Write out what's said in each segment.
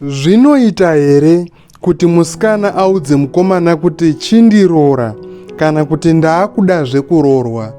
Zvinoita here kuti musikana audze mukomana kuti chindiroora kana kuti ndaakuda zvekurorwa?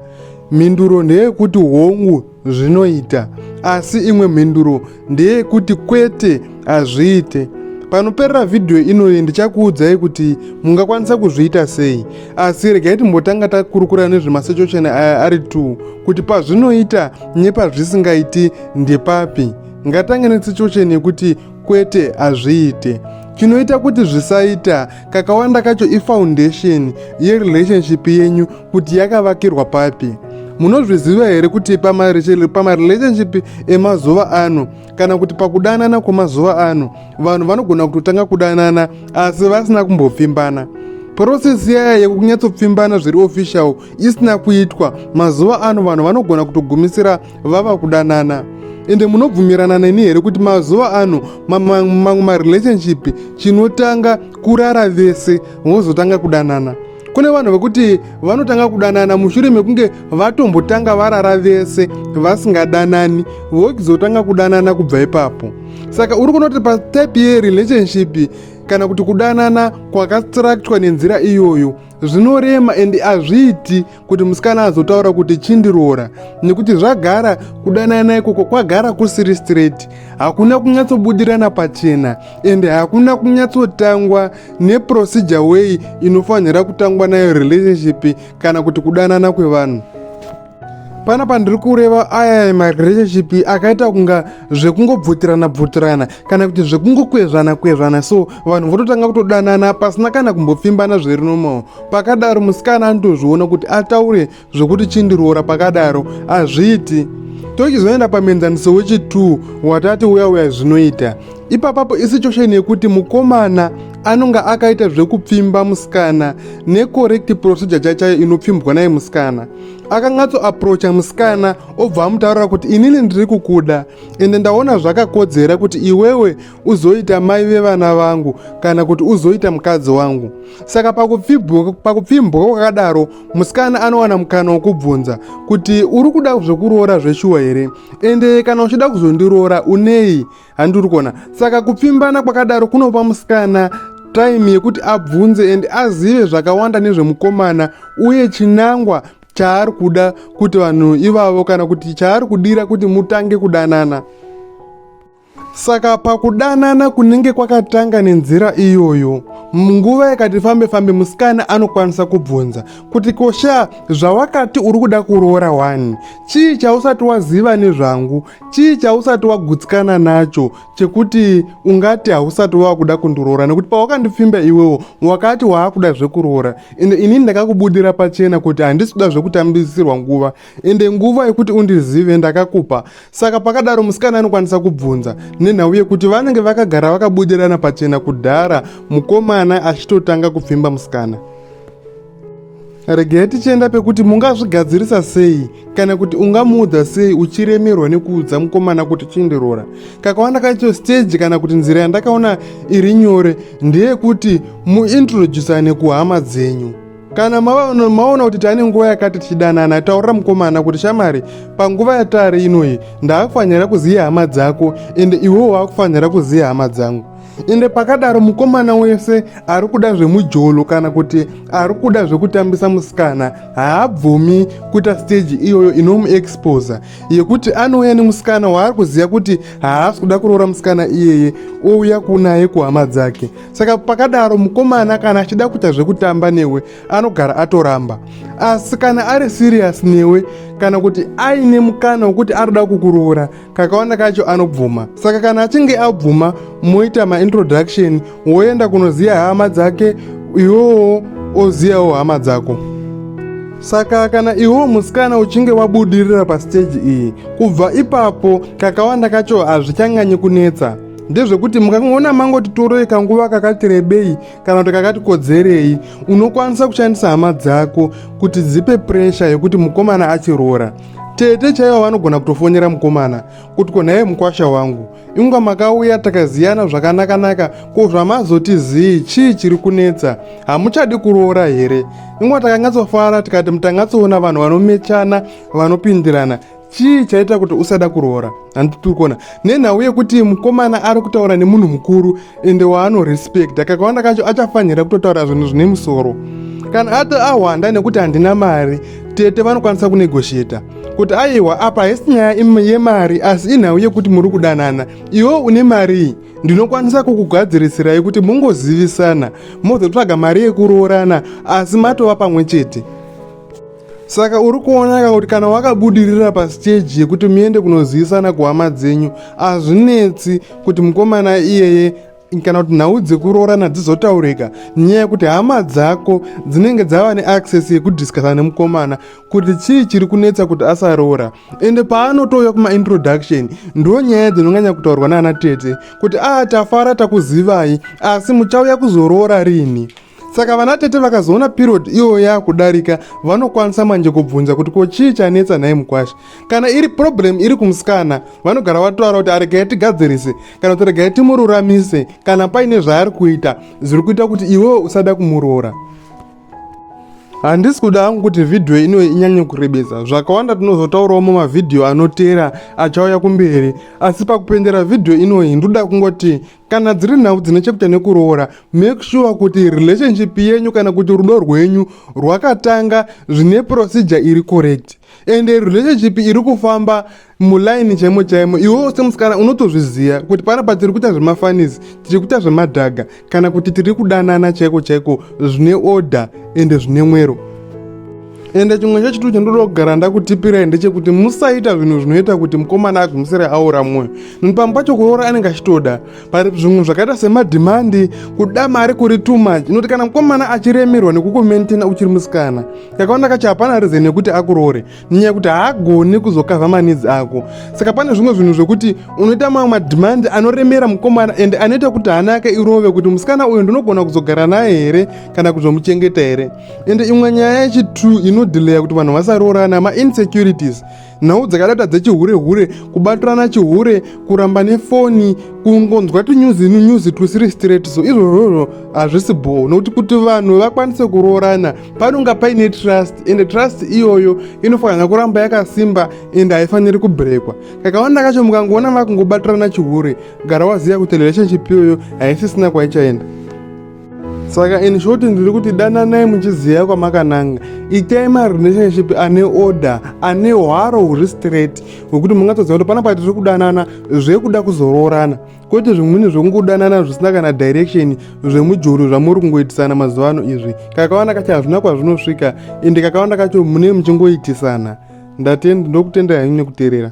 Mhinduro ndeyekuti hongu zvinoita, asi imwe mhinduro ndeyekuti kwete hazviite. Panoperera vhidhiyo inoyi ndichakuudzai kuti mungakwanisa kuzviita sei, asi regai timbotanga takurukura nezvemasechocheni aya ari two kuti pazvinoita nepazvisingaiti ndepapi. ngatange nesituation yekuti kwete hazviite chinoita kuti zvisaita kakawanda kacho ifoundation yerelationship yenyu kuti yakavakirwa papi munozviziva here kuti pamarelationship emazuva ano kana kuti pakudanana kwemazuva ano vanhu vanogona kutotanga kudanana asi vasina kumbopfimbana purosesi yaya yekunyatsopfimbana zviri official isina kuitwa mazuva ano vanhu vanogona kutogumisira vava kudanana ende munobvumirana neni here kuti mazuva ano mamwe marelationship chinotanga kurara vese vozotanga kudanana kune vanhu vekuti vanotanga kudanana mushure mekunge vatombotanga varara vese vasingadanani vokizotanga kudanana kubva ipapo saka uri kunoti patype yerelationship kana kuti kudanana kwakastraktwa nenzira iyoyo zvinorema and hazviiti kuti musikana azotaura kuti chindiroora nekuti zvagara kudanana ikoko kwagara kusiri straight hakuna kunyatsobudirana pachena ende hakuna kunyatsotangwa neprocedure way inofanira kutangwa nayo relationship kana kuti kudanana kwevanhu pana pandiri kureva aya marelationship akaita kunga zvekungobvutirana bvutirana kana kuti zvekungokwezvana kwezvana so vanhu vototanga kutodanana pasina kana kumbopfimbana zviri nomawo pakadaro musikana anotozviona kuti ataure zvekuti chindiroora pakadaro hazviiti tochizoenda pamienzaniso wechi2 watati uya uya zvinoita ipapapo isituation yekuti mukomana anonga akaita zvekupfimba musikana necorrect procedure chachayo inopfimbwa naye musikana akanyatso aprocha musikana obva amutaurira kuti inini ndiri kukuda ende ndaona zvakakodzera kuti iwewe uzoita mai vevana vangu kana kuti uzoita mukadzi wangu saka pakupfimbwa kwakadaro musikana anowana mukana wokubvunza kuti uri kuda zvekuroora zveshuwa here ende kana uchida kuzondiroora unei handiri kuona saka kupfimbana kwakadaro kunopa musikana time yekuti abvunze and azive zvakawanda nezvemukomana uye chinangwa chaari kuda kuti vanhu ivavo kana kuti chaari kudira kuti mutange kudanana Saka pakudanana kunenge kwakatanga nenzira iyoyo, munguva yakati fambe fambe musikana anokwanisa kubvunza kuti kosha zvawakati uri kuda kuroora wani chii chausati waziva nezvangu chii chausati wagutsikana nacho chekuti ungati hausati wava kuda kundiroora nekuti pawakandipfimba iwewo wakati waakuda zvekuroora ende inini ndakakubudira pachena kuti handisi kuda zvekutambisirwa nguva ende nguva yekuti undizive ndakakupa saka pakadaro musikana anokwanisa kubvunza nenhau yekuti vanenge vakagara vakabudirana pachena kudhara mukomana achitotanga kupfimba musikana regai tichienda pekuti mungazvigadzirisa sei kana kuti ungamuudza sei uchiremerwa nekuudza mukomana kuti chindirora kakawanda kacho stage kana kuti nzira yandakaona iri nyore ndeyekuti muintroducane kuhama dzenyu kana maona kuti tane nguva yakati tichidanana taurira mukomana kuti shamari panguva yatari inoyi ndaakufanira kuziva hama dzako ende iwewo waakufanira kuziva hama dzangu ende pakadaro mukomana wese ari kuda zvemujolo kana kuti ari kuda zvekutambisa musikana haabvumi kuita steji iyoyo inomuexposa yekuti anouya nemusikana waari kuziva kuti haasi kuda kuroora musikana iyeye ouya kunaye kuhama dzake saka pakadaro mukomana kana achida kuita zvekutamba newe anogara atoramba asi kana ari siriyasi newe kana kuti aine mukana wekuti arida kukuroora kakawanda kacho anobvuma saka kana achinge abvuma moita maintroduction woenda kunoziva hama dzake iwowo ozivawo hama dzako saka kana iwo musikana uchinge wabudirira pasiteji iyi kubva ipapo kakawanda kacho hazvichanganyi kunetsa ndezvekuti mukangoona mangoti toroi kanguva kakati rebei kana kuti kakati kodzerei unokwanisa kushandisa hama dzako kuti dzipe puresha yekuti mukomana achiroora tete chaivo vanogona kutofonera mukomana kuti ko nhaiye mukwasha wangu inga makauya takaziyana zvakanakanaka ko zvamazoti zii chii chiri kunetsa hamuchadi kuroora here inga takanyatsofara tikati mutangatsoona vanhu vanomechana vanopindirana chii chaita kuti usada kuroora handi tiri kuona nenhau yekuti mukomana ari kutaura nemunhu mukuru ende waanorespecta kakawanda kacho achafanira kutotaura zvinhu zvine musoro kana ati ahwanda nekuti handina mari tete vanokwanisa kunegosheta kuti aiwa apa haisi nyaya yemari asi inhau yekuti muri kudanana iwo une marii ndinokwanisa kukugadzirisirai kuti mungozivisana mozotsvaga mari yekuroorana asi matova pamwe chete saka uri kuonaka kuti kana wakabudirira pasiteji yekuti muende kunozivisana kuhama dzenyu hazvinetsi kuti mukomana iyeye kana kuti nhau dzekuroorana dzizotaurika nyaya yekuti hama dzako dzinenge dzava neaccess yekudiscasa nemukomana kuti chii chiri kunetsa kuti asaroora ende paanotouya kumaintroduction ndo nyaya dzinonganya kutaurwa naana tete kuti aa ah, tafara takuzivai asi muchauya kuzoroora rini saka vana tete vakazoona period iyoyo yakudarika vanokwanisa manje kubvunza kuti ko chii chanetsa nhai mukwasha kana iri problem iri kumusikana vanogara vatoara kuti aregai tigadzirise kana kuti regai timururamise kana paine zvaari kuita zviri kuita kuti iwewe usada kumuroora handisi kuda hangu kuti vhidhiyo ino inyanye kurebesa zvakawanda tinozotaurawo mumavhidhiyo anoteera achauya kumberi asi pakupendera vhidhiyo inoyi ndoda kungoti kana dziri nhau dzine chekuita nekuroora make sure kuti relationship yenyu kana kuti rudo rwenyu rwakatanga zvine procedure iri correct ende relationship iri kufamba mulaini chaimo chaimo iwewo semusikana unotozviziva kuti panapa tiri kuita zvemafanisi tiri kuita zvemadhaga kana kuti tiri kudanana chaiko chaiko zvine order ende zvine mwero ende chimwe chechitu chandoda kugara ndakutipirai ndechekuti musaita zvinhu zvinoita kuti mukomana agwimisire aura mwoyo nekuti pamwe pacho kuroora anenge achitoda pari zvimwe zvakaita semadhimandi kuda mari kuri too much inoti kana mukomana achiremerwa nekukumentena uchiri musikana kakawanda kacho hapana rizeni yekuti akuroore nenyaya yekuti haagoni kuzokavha manidzi ako saka pane zvimwe zvinhu zvekuti unoita mamwe madhimandi anoremera mukomana ende anoita kuti hana yake irove kuti musikana uyu ndinogona kuzogara naye here kana kuzomuchengeta here ende imwe nyaya yechitu inodhileya kuti vanhu vasaroorana mainsecurities nhau dzakadata dzechihure hure kubatirana chihure kuramba nefoni kungonzwa tunyuzi nunyuzi twusiri straight so izvozvozvo hazvisi bhoo nokuti kuti vanhu vakwanise kuroorana panonga paine trust ende trust iyoyo inofanira kuramba yakasimba ende haifaniri kubrekwa kakawanda kacho mukangoona vakungobatirana chihure gara waziva kuti relationship iyoyo haisisina kwaichaenda saka in short ndiri kuti dananai muchiziva kwamakananga itai marelationship ane order ane hwaro huri straight hwekuti mungatoziva kuti pana patiri kudanana zvekuda kuzoroorana kwete zvimweni zvekungodanana zvisina kana direction zvemujuru zvamuri kungoitisana mazuva ano izvi kakawanda kacho hazvina kwazvinosvika ende kakawanda kacho mune muchingoitisana ndatenda ndokutendai nekuterera